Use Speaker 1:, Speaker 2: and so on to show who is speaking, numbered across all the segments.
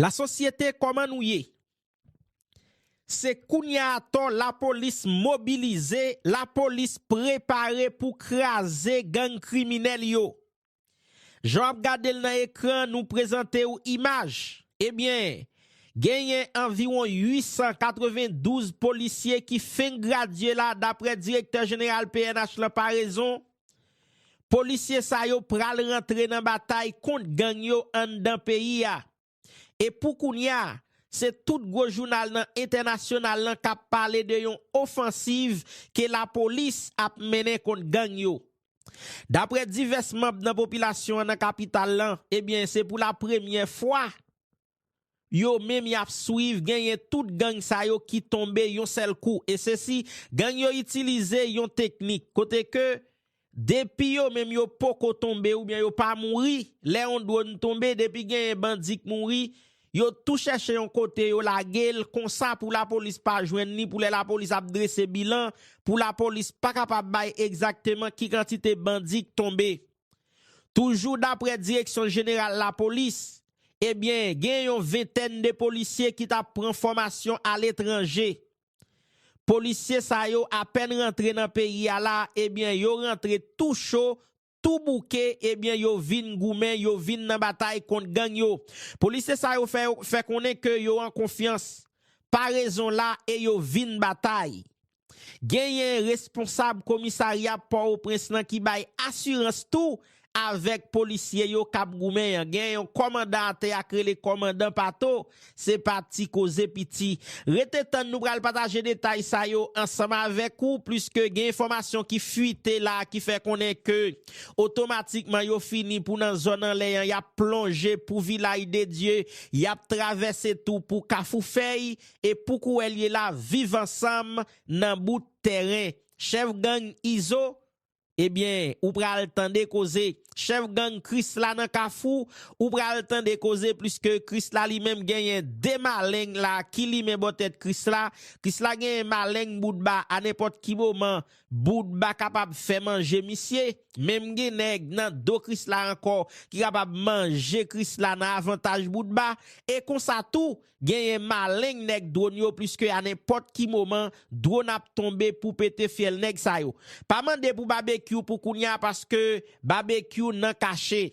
Speaker 1: La sosyete koman nou ye? Se kounya atò la polis mobilize, la polis prepare pou kraze gang kriminèl yo. Jan w ap gade l nan ekran nou prezante w imaj, ebyen genyen anviwon 892 polisye ki fenk gradye la daprè direktè jeneral pnh lan Paraison Polisye sa yo pral rantre nan batay kont gang yo anndan peyi a. E pou kounya, se tout gwo jounal nan entènasyonal lan k ap pale de yon ofansiv ke lapolis ap mennen kont gang yo. Daprè divès manb nan popilasyon an nan kapital lan, ebyen se pou la premyè fwa, yo menm yap swiv genyen tout gang sa yo ki tonbe yon sèl kou e sesi gang yo itilize yon teknik kote ke depi yo menm yo poko tonbe oubyen yo pa mouri lè yon dwonn tonbe depi genyen bandi k mouri yo tou chèche yon kote yo lagel konsa pou lapolis pa jwenn li pou lè lapolis ap drese bilan pou lapolis pa kapab bay egzakteman ki kantite bandi k tonbe toujou daprè direksyon jeneral lapolis. Ebyen gen yon ventèn de polisye ki tap pran fòmasyon aletranje. Polisye sa yo apèn rantre nan peyi a la ebyen yo rantre tou cho, tou bouke ebyen yo vin goumen, yo vin nan batay kont gang yo. Polisye sa yo fè konnen ke yo an konfyans. Parezon la e yo vin batay. Genyen responsab komisarya Pòoprens lan ki bay asirans tou avèk polisye yo kap goumen an. Gen yon kòmandan atè ak rele kòmandan Pato, se pa ti koze piti. Rete tann nou pral pataje detay sa yo ansanm avèk ou pliske gen enfòmasyon ki fwite la ki fè konnen ke otomatikman yo fini pou nan zòn anlè an yap plonje pou Vilay de Dye, yap travèse tou pou Kafou Fèy e pou kouwè l ye la viv ansanm nan bout tèren chèf gang Izo ebyen ou pral tande koze chèf gang Krisla nan kafou ou pral tande koze pliske Krisla li menm genyen 2 maleng la ki limen bò tèt Krisla Krisla genyen maleng Boutba a nenpòt ki moman Boutba kapab fè manje misye menm gen nèg nan do Krisla ankò ki kapab manje Krisla nan avantaj Boutba e konsa tou Genyen maleng nèg dwon yo pliske a nenpòt ki moman dwon ap tonbe pou pete fyèl nèg sa yo. Pa mande pou Babekyou pou kounya paske Babekyou nan kache.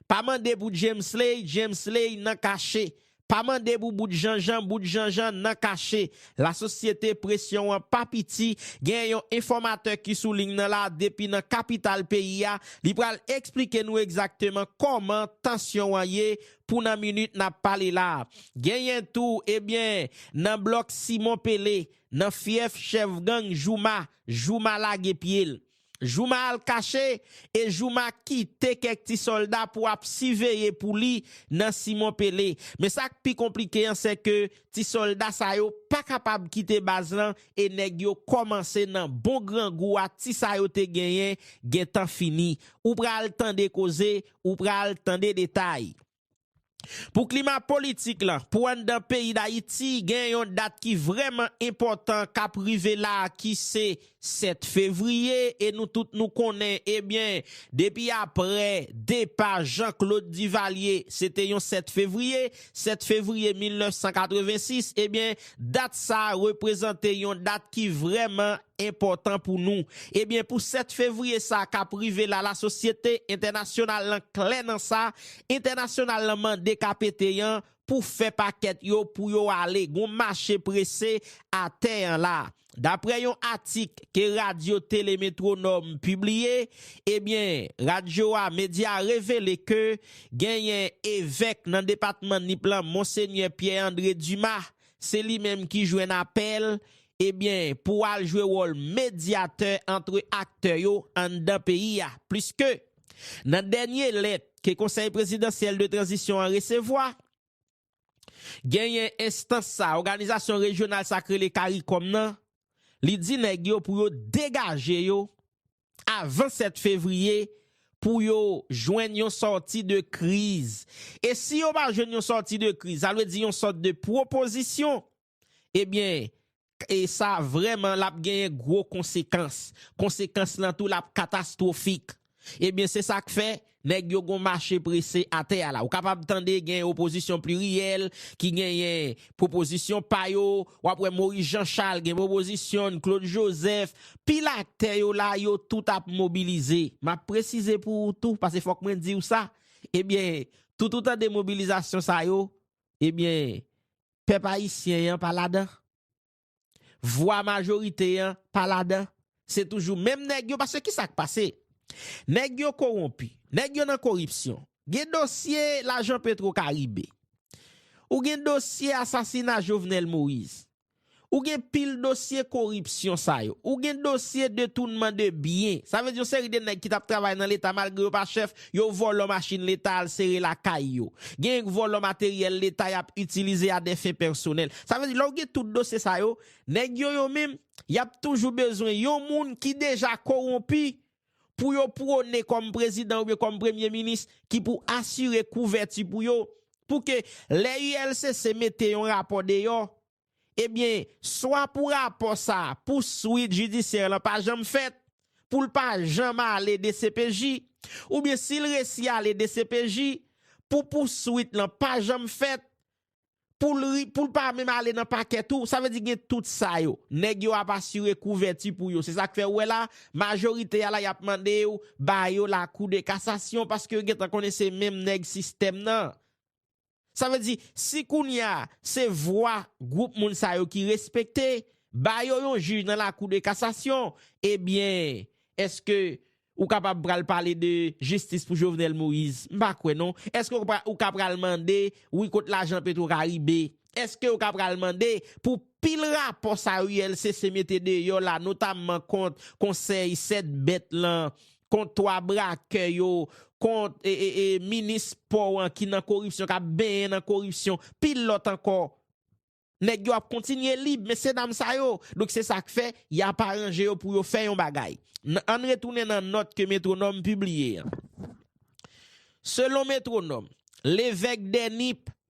Speaker 1: Pa mande pou Djemsley, Djemsley nan kache. Pa mande pou Bout Janjan, Bout Janjan nan kache. Lasosyete presyon an pa piti, genyen yon enfòmatè ki sou ling nan la depi nan kapital peyi a, li pral eksplike nou egzakteman kòman tansyon an ye pou nan minit n ap pale la a. Genyen tou, ebyen, nan blòk Simon Pele, nan fyèf chèf gang Jouma, Jouma lage pye l. Jouma al kache e Jouma kite kèk ti sòlda pou ap siveye pou li nan Simon Pele. Men sa k pi konplike an se ke ti sòlda sa yo pa kapab kite baz lan e nèg yo kòmanse nan bon grangou a ti sa yo te genyen gentan fini. Ou pral tande koze ou pral tande detay. Pou klima politik lan, pou anndan peyi Dayiti gen yon dat ki vrèman enpòtan kap rive la ki se 7 fevriye e nou tout nou konnen ebyen depi aprè depa Jean Claude Duvalier se te yon 7 fevriye, 7 fevriye 1986 ebyen dat sa reprezante yon dat ki vrèman enpòtan pou nou. Ebyen pou 7 fevriye sa a kap rive la lasosyete entènasyonal lan klè nan sa, entènasyonal lan mande KPT an pou fè pakèt yo pou yo ale gon mache prese atè an la. Daprè yon atik ke radyo tele Metronòm pibliye, ebyen radyo a medya a revele ke genyen evèk nan depatman Nip lan Monsenyè Pierre André Dumas se li menm ki jwenn apèl ebyen pou al jwe wòl medyatè antre aktè yo anndan peyi a, pliske nan dènye lèt ke Konsèy Prezidansyèl de Tranzisyon an resevwa, genyen enstans sa, òganizasyon rejyonal sa k rele caricom nan, li di nèg yo pou yo degaje yo avan 7 fevriye pou yo jwenn yon sòti de kriz. E si yo pa jwenn yon sòti de kriz, sa vle di yon sòt de pwopozisyon Ebyen e sa vrèman lap genyen gwo konsekans, konsekans lan tou lap katastwofik. Ebyen se sak fè nèg yo gon mache prese atè a la. Ou kapab tande gen opozisyon pliryèl ki genyen pwopozisyon pa yo, wap wè Moyiz Janchal gen pwopozisyon n, Klod Jozèf, pil aktè yo la yo tout ap mobilize. Map presize pou ou tou pase fòk mwen diw sa, ebyen tout ou tande mobilizasyon sa yo, ebyen Pèp ayisyen an pa ladan. Vwa majorite an pa ladan. Se toujou menm nèg yo paske kisa k pase? Nèg yo kowonpi. Nèg yo nan koripsyon. Gen dosye lajan petro karibe. Ou gen dosye asasina Jovenel Moïse. Ou gen pil dosye koripsyon sa yo. Ou gen dosye detounman de byen. Sa vle di yon seri de nèg ki t ap travay nan leta malgre yo pa chèf Yo vòlò machin leta al sere lakay yo. Genyen k vòlò materyèl leta y ap itilize a dè fen pèsonèl. Sa vle di lè w gen tout dosye sa yo, nèg yo yo menm, y ap toujou bezwen yon moun ki deja kowonpi pou yo pwone kòm prezidan oubyen kòm premye minis ki pou asire kouvèti pou yo pou ke lè ULCC mete yon rapò deyò, Ebyen, swa pou rapò sa, pou swit jidisyè lan pa janm fèt, pou l pa janm ale dcpj, oubyen si l resi ale dcpj, pou pou swit lan pa janm fèt, pou l ri, pou l pa menm ale nan pakè tou, sa vle di gen tout sa yo. Nèg yo ap asire kouvèti pou yo. Se sa k fè ou wè la, majorite a la y ap mande yo ba yo lakou de kasasyon paske yo gen tan konnen se menm nèg sistèm nan. Sa vle di, si kounye a, se vwa gwoup moun sa yo ki respekte, ba yo yon jij nan lakou de kasasyon, ebyen, eske ou kapab pral pale de jistis pou Jovenel Moïse? M pa kwè non. Eske ou ka pral mande, wi kot lajan Petro Caribe? Eske ou ka pral mande pou pil rapò sa yo ULCC mete deyò la, notamman kont konsèy 7 bèt lan, kont 3 brakè yo, kont minis pò an ki nan koripsyon, k ap benyen nan koripsyon, pil lòt ankò. Nèg yo ap kontinye lib, mesye dam sa yo. Donk se sa k fè, y ap aranje yo pou yo fè yon bagay. An n retounen nan nòt ke Métronome pibliye an. Selon Métronome, Levèque Denip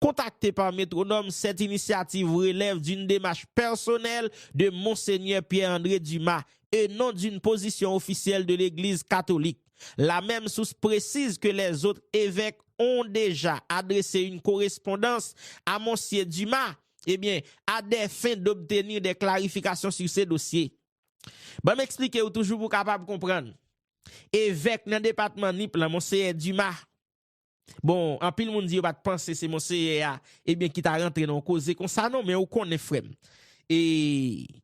Speaker 1: Kontakte pa Métronome, cette initiative relève d'une démarche personnelle de Monseigneur Pierre André Dumas et non d'une position officielle de l'Eglise Catholique. La même source précise que les autres évèques ont déjà adressé une correspondance à Monsier Dumas, eh bien, à des fins d'obtenir des clarifications sur ce dossier. Ban m eksplike ou toujou pou w kapab konprann. Evèk nan depatman Nip lan, Monseyè Dumas, Bon, anpil moun di yo pa t panse se Monseyè a, ebyen ki ta rantre nan yon koze konsa non, men ou konnen frè m. E,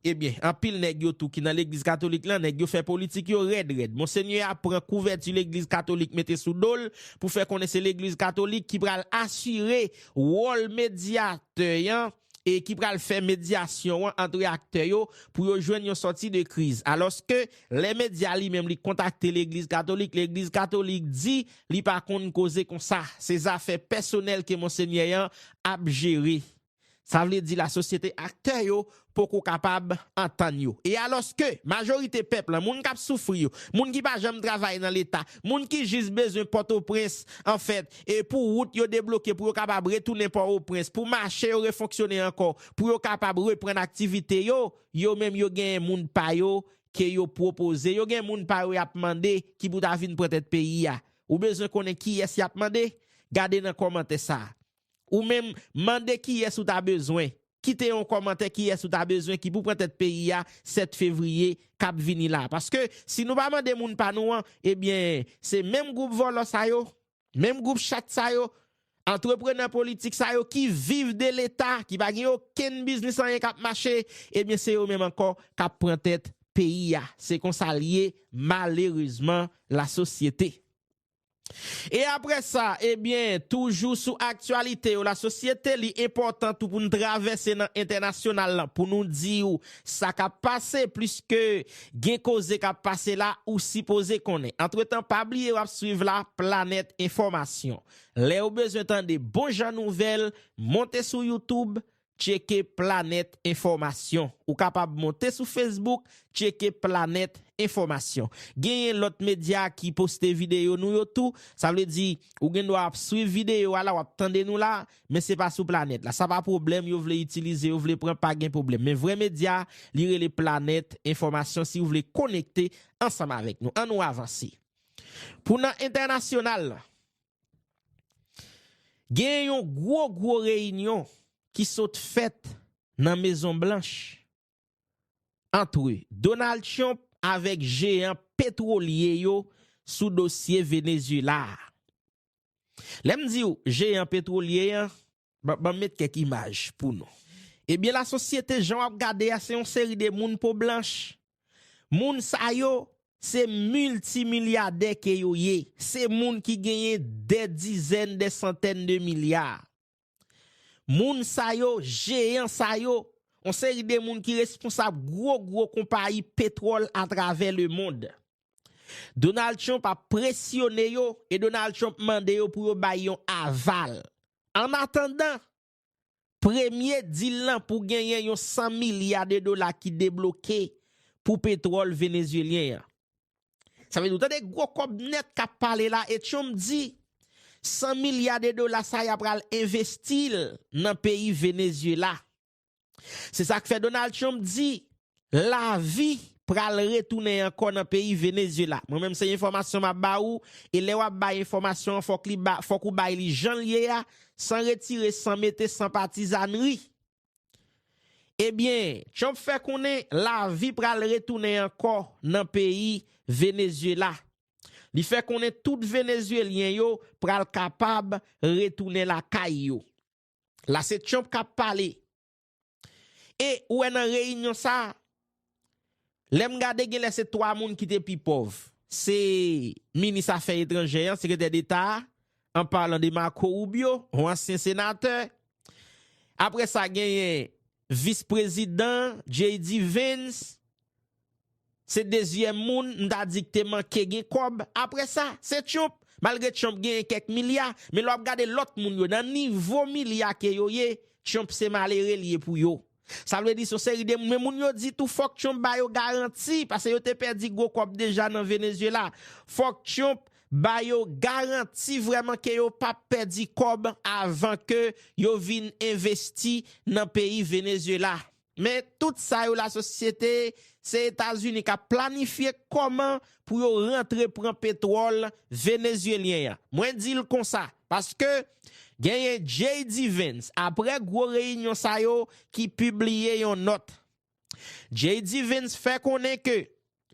Speaker 1: ebyen, anpil nèg yo tou ki nan Legliz Katolik lan, nèg yo fè politik yo rèd rèd. Monsenyè a pran kouvèti Legliz Katolik mete sou do l pou fè konnen se Legliz Katolik ki pral asire wòl medyatè an e ki pral fè medyasyon an antre aktè yo pou yo jwenn yon sòti de kriz. Alòske, lè medya li menm li kontakte legliz katolik, legliz katolik di li pa konn koze konsa, se zafè pèsonèl ke monsenyè an ap jere. Sa vle di lasosyete aktè yo poko kapab antann yo. E alòske, majorite pèp lan, moun k ap soufri yo, moun ki pa janm travay nan leta, Moun ki jis bezwen Pòtoprens, anfèt, e pou wout yo debloke pou yo kapab retounen Pò-o-Prens, pou mache yo refonksyone ankò, pou yo kapab reprann aktivite yo, yo menm yo genyen moun pa yo ke yo pwopoze, yo gen moun pa yo y ap mande ki pou ta vin pran tèt peyi a. Ou bezwen konnen kiyès y ap mande? Gade nan kòmantè sa a. Ou menm, mande kiyès ou ta bezwen. Kite yon kòmantè kiyès ou ta bezwen ki pou pran tèt peyi a 7 fevriye k ap vini la. Paske, si nou pa mande moun pa nou an, ebyen, se menm gwoup vòlò sa yo, menm gwoup chat sa yo, antreprenè politik sa yo ki viv de Leta, ki pa gen okenn biznis anyen k ap mache, ebyen se yo menm ankò k ap pran tèt peyi a. Se konsa l ye, malerezman, lasosyete. E aprè sa, ebyen, toujou sou aktyalite yo lasosyete, li enpòtan tou pou n travèse nan entènasyonal lan pou nou di ou sa k ap pase, pliske gen koze k ap pase la ou sipoze konnen. Antretan, pa bliye w ap swiv la planèt enfòmasyon. Lè ou bezwen tande bon jan nouvèl, monte sou youtube, Tcheke Planèt Enfòmasyon Ou kapab monte sou Facebook Tcheke Planèt Enfòmasyon. Genyen lòt medya ki poste videyo nou yo tou. Sa vle di, ou gen dwa ap swiv videyo a la, w ap tande nou la, men se pa sou planèt la. Sa pa pwoblèm, yo vle itilize, yo vle pran, pa gen pwoblèm. Men vrè medya a, li rele Planèt Enfòmasyon si ou vle konekte ansanm avèk nou. An nou avanse. Pou nan entènasyonal lan. Gen yon gwo gwo reyinyon ki sot fèt nan Mezon Blanch antre Donald Trump avèk jeyan petwolye yo sou dosye Venezyela a. Lè m di w jeyan petwolye an, Banm met kèk imaj pou nou. Ebyen la sosyete jan wap gade a se yon seri de moun po blanch. Moun sa yo se milti milyadè ke yo ye. Se moun ki genyen dè dizèn, dè santèn de milya. Moun sa yo, jeyan sa yo, yon seri de moun ki responsab gwo gwo konpayi petwòl atravè le mond. Donald Trump ap presyone yo e Donald Trump mande yo pou yo bay yon aval. An atandan, premye dil lan pou genyen yon 100 milya de dola ki debloke pou petwòl Venezyelyen an. Sa vle di ou tande gwo kòb nèt kap pale la e Trump di 100 milya de dola sa ya pral envesti l nan peyi Venezyela. Se sa k fè Donald Trump di lavi pral retounen ankò nan peyi Venezyela. Mwen menm se enfòmasyon m ap ba ou, e lè w ap bay enfòmasyon an fòk li ba, fòk ou bay li jan l ye a, san retire, san mete, san patizannri. Ebyen, Trump fè konnen lavi pral retounen ankò nan peyi Venezyela. Li fè konnen tout Venezyelyen yo pral kapab retounen lakay yo. La se Trump kap pale. E ou wè nan reyinyon sa, lè m gade gen lè se 3 moun ki te pi pòv. Se minis afè etranjè an, sekretè deta a, an palan de Marco Rubio, yon ansyen senatè. Apre sa genyen vis prezidan, JD Vance, Se dezyèm moun m ta di k te manke gen kòb apre sa, se Trump. Malgre Trump genyen kèk milya, men lè w ap gade lòt moun yo nan nivo milya ke yo ye, Trump se malere l ye pou yo. Sa vle di se yon seri de moun, men moun yo di tou fòk Trump ba yo garanti, pase yo te pèdi gwo kòb deja nan Venezuela. Fòk Trump ba yo garanti vrèman ke yo pa p pèdi kòb avan ke yo vin envesti nan peyi Venezuela. Men tout sa yo lasosyete se etazini kap planifye koman pou yo rantre pran petwol venezyelyen an mwen dil konsa paske genyen JD Vance apre gwo reyinyon sa yo ki pibliye yon not JD Vance fè konnen ke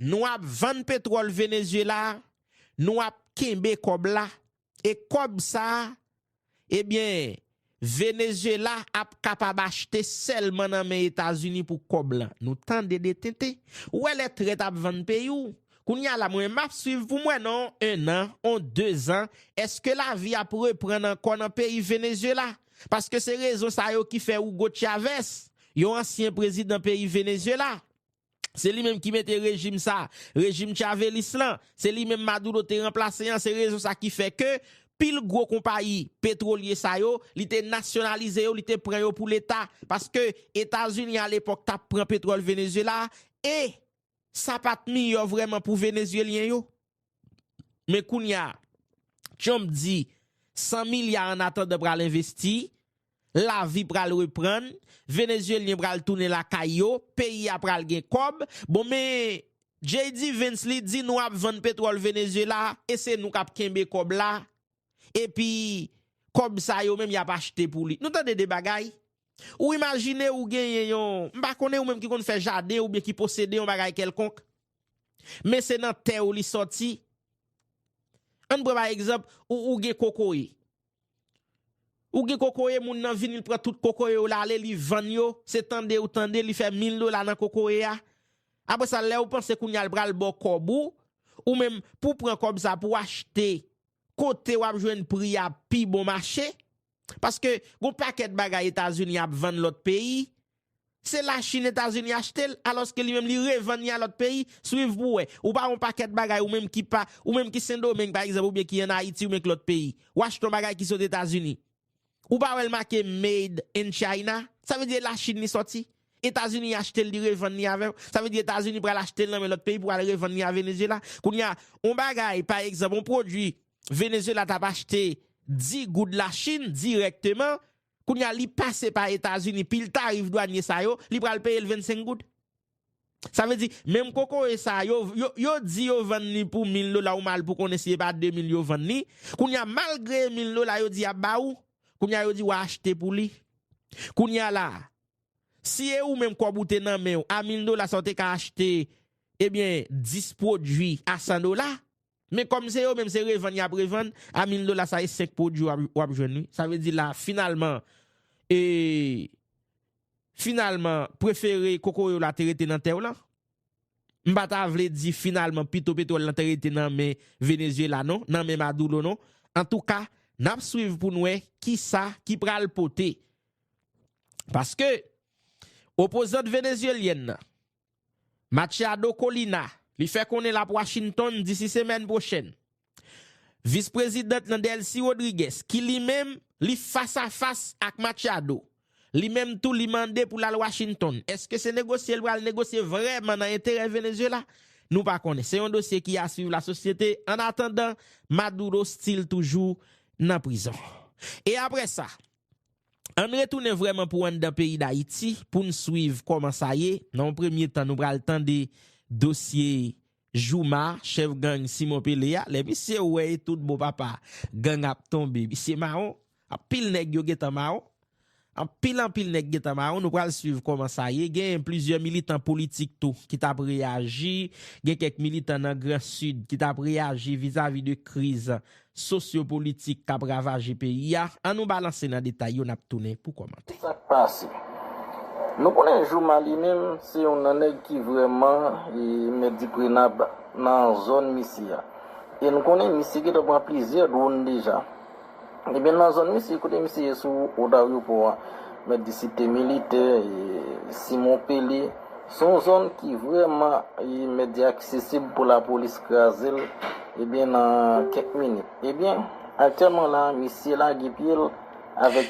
Speaker 1: Nou ap vann petwòl Venezuela, nou ap kenbe kòb la, e kòb sa, ebyen, Venezuela ap kapab achte sèlman nan men Etazini pou kòb lan. Nou tande de tenten. Ou wè lè trèt ap vann peyi w? Kounye a la, mwen m ap swiv pou m wè nan on 1 an, on 2 zan, èske lavi ap reprann ankò nan peyi Venezuela? Paske se rezon sa yo ki fè Hugo Chavez, yon ansyen prezidan peyi Venezuela, Se li menm ki mete rejim sa, rejim chavelis lan, se li menm Maduro te ranplase an, se rezon sa ki fè ke pil gwo konpayi petwolye sa yo, li te nasyonalize yo, li te pran yo pou leta, paske Etazini a lepòk tap pran petwòl Venezyela, e sa pat miyò vrèman pou Venezyelyen yo. Men kounya Trump di 100 milya an atandan pral envesti, lavi pral reprann, Venezyelyen pral tounen lakay yo, peyi a pral gen kòb, bon men JD Vance li di nou ap vann petwòl Venezyela e se nou kap kenbe kòb la epi kòb sa yo menm yap achte pou li. Nou tande de bagay? Ou imajine ou genyen yon, m pa konnen ou menm ki konn fè jaden oubyen ki posede yon bagay kèlkonk, Men se nan tè ou li sòti. Ann pran pa egzanp, ou gen kokoye. Ou gen kokoye, moun nan vini l pran tout kokoye ou la ale li vann yo, se tande ou tande li fè 1000 dola nan kokoye a. Apre sa lè ou panse kounye a l pral ba w kòb ou, ou menm pou pran kòb sa pou achte kote w ap jwenn pri a pi bon mache, Paske gon pakèt bagay Etazini ap vann lòt peyi, se la Chine Etazini achte l, alòske li menm li revann li a lòt peyi, swiv pou wè. Ou pa wè yon pakèt bagay ou menm ki pa, ou menm ki Sendomeng pa egzanp oubyen ki an Ayiti oubyen ki lòt peyi, ou achte yon bagay ki sot Etazini, ou pa wè l make made in China, sa vle di e la Chine li sòti? Etazini achte l li revann li avè w, sa vle di Etazini pral achte l nan men lòt peyi pou al revann li a Venezyela. Kounye a, yon bagay pa egzanp, yon pwodui Venezuela tap achte 10 goud la chine direkteman kounya li pase pa etazini pil tarif dwanye sa yo li pral peyel 25 goud sa vle di menm kokoye sa yo yo di yo vann li pou 1000 dola ou mal pou konnen si epa 2000 yo vann li kounya malgre e 1000 dola yo di yap ba ou kounya yo di wa achte pou li kounya la si e ou menm kob ou te nan menw a 1000 dola sa ou te ka achte ebyen 10 pwodwi a 100 dola Men kòm se yo menm se revann yap revann a 1000 dola sa e 5 pwodwi wap jwenn wi sa vle di la finalman e finalman prefere kokoye w la te rete nan tè w lan m pa ta vle di finalman pito petwòl lan te rete nan men Venezyela non nan men Madulo non antouka nap swiv pou n wè kisa ki pral pote paske opozant Venezyelyèn nan Machado Colina, li fè konnen l ap Washington disi semèn pwochèn. Vis prezidant nan Delcy Rodriguez, ki li menm, li fas a fas ak Machado, li menm tou li mande pou l al Washington. Eske se negosye l pral negosye vrèman nan enterè Venezuela? Nou pa konnen. Se yon dosye ki a swiv lasosyete. Ann atandan, Maduro stil toujou nan prizon. E aprè sa, Ann retounen vrèman pou anndan peyi Dayiti pou n swiv kòman sa ye, nan yon premye tan nou pral tande dosye Jouma, chèf gang Simon Pele a, lè misye wè e tout bon papa gang ap tonbe misye mawon, anpil nèg yo gentan mawon, anpil anpil nèg gentan mawon, nou pral swiv kòman sa ye, gen plizyè militan politik tou ki t ap reyaji, gen kèk militan nan gran sid ki t ap reyaji vizavi de kriz sosyopolitik k ap ravaje peyi a, an nou balanse nan detay yo n ap tounen pou kòmante. Sa k pase?
Speaker 2: Nou konnen Jooma li menm se youn nan nèg ki vrèman mèt di prenab nan zòn misye a. E nou konnen misye gentan pran plizyè dwonn deja. Ebyen nan zòn misye, kote misye ye sou wout aryopò a, mèt di si te militè, Simon Pele, Se yon zòn ki vrèman imedya aksesib pou lapolis kraze l ebyen nan kèk minit. Ebyen, aktyèlman la, misye lage pye l avèk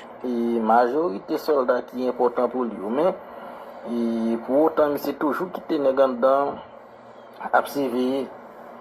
Speaker 2: majorite sòlda ki enpòtan pou li yo. Men, pou otan misye toujou kite nèg anndan ap siveye.